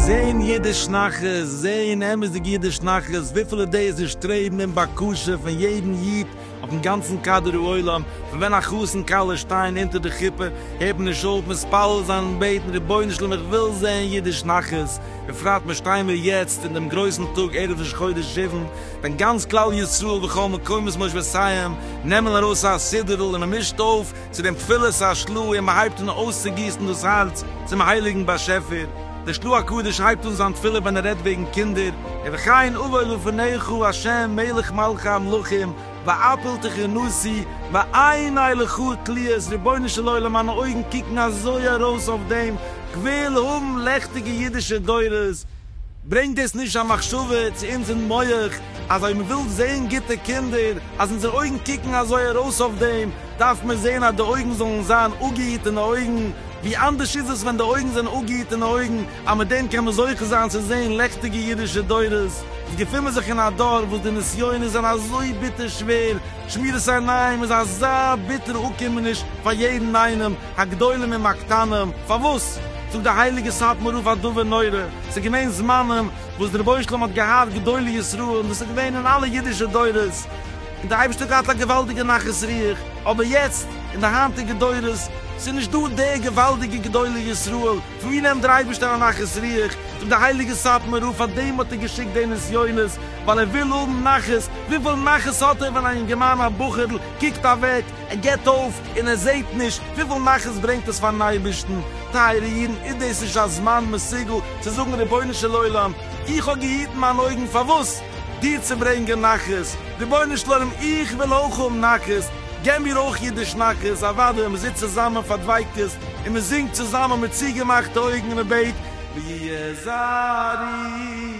זעהן אידיש נחת, זעהן אמת'דיג אידיש נחת, וויפיל אידעיס און שטרעבן און בקשה פון יעדן איד, אויפן גאנצן קאדער העולם, פון ווען א חתן כלה שטייען אונטער די חופה, הערט מען נישט אויף מתפלל זיין און בעטן, רבונו של עולם איך וויל זען אידיש נחת, בפרט מיר שטייען מיר יעצט אין דעם גרויסן טאג ערב ראש חודש שבן, ווען גאנץ כלל ישראל בכל מקומות מושבותיהם נעמען ארויס א סידור'ל און מען מישט אויף, צו דעם תפילת השלו און מען הייבט אן אויסצוגיסן דאס הארץ צום הייליגן באשעפער. דער שלו הקדוש הייבט אן זיין תפילה ווען ער רעדט וועגן קינדער, ובכן אבוא לפניך השם מלך מלכי המלכים ואפלתיך נשיא ועיני לך תליות, רבונו של עולם מיינע אויגן קוקן אזוי ארויס אויף דעם, כוויל האבן לעכטיגע אידישע דורות, ברענגט דאס נישט א מחשבה צו אונזער מח אז אויב מען וויל זען גוטע קינדער, אז אונזער אויגן קוקן אזוי ארויס אויף דעם, דארף מען זען אז די אויגן זאלן זיין אפגעהיטענע אויגן? ווי אנדערש איז עס ווען די אויגן זענען אפגעהיטענע אויגן, אז מיט דעם קען מען זוכה זיין צו זען לעכטיגע אידישע דורות? אונז געפון מיר זיך אין א דור וואס די נסיונות זענען אזוי ביטער שווער, שמירת עיניים איז אזא ביטערע אפקומעניש פאר יעדן איינעם, הגדולים עם הקטנים, פארוואס? זאגט די הייליגע סאטמאר רב א דבר נורא, ס'איז געווען זמנים וואס דער רבונו של עולם האט געהאט גדולי ישראל און דאס איז געווען אין אלע אידישע דורות און דער אייבערשטער האט געהאט א געוואלדיגע נחת רוח, אבער יעצט אין די היינטיגע דורות ס'איז נישט דא די געוואלדיגע גדולי ישראל, פון ווי נעמט דער אייבערשטער א נחת רוח? זאגט די הייליגע סאטמאר רב פאר דעם האט ער געשיקט די נסיונות, ווייל ער וויל האבן נחת, וויפיל נחת האט ער ווען א יונגערמאן א בחור'ל קוקט אוועק, ער גיט אויף און ער זעט נישט וויפיל נחת ברענגט עס פארן אייבערשטן, טייערע אידן איז דאס נישט א זמן מסוגל צו זאגן רבונו של עולם איך האב געהיטן מיין אויגן פארוואס דיר צו ברענגען נחת, רבונו של עולם איך וויל אויך האבן נחת געב מיר אויך אידיש נחת, אוודאי ווען מען זיצט צוזאמען פאר דביקות און מען זינגט צוזאמען מיט צוגעמאכטע אויגן און מען בעט ויהי זרעי.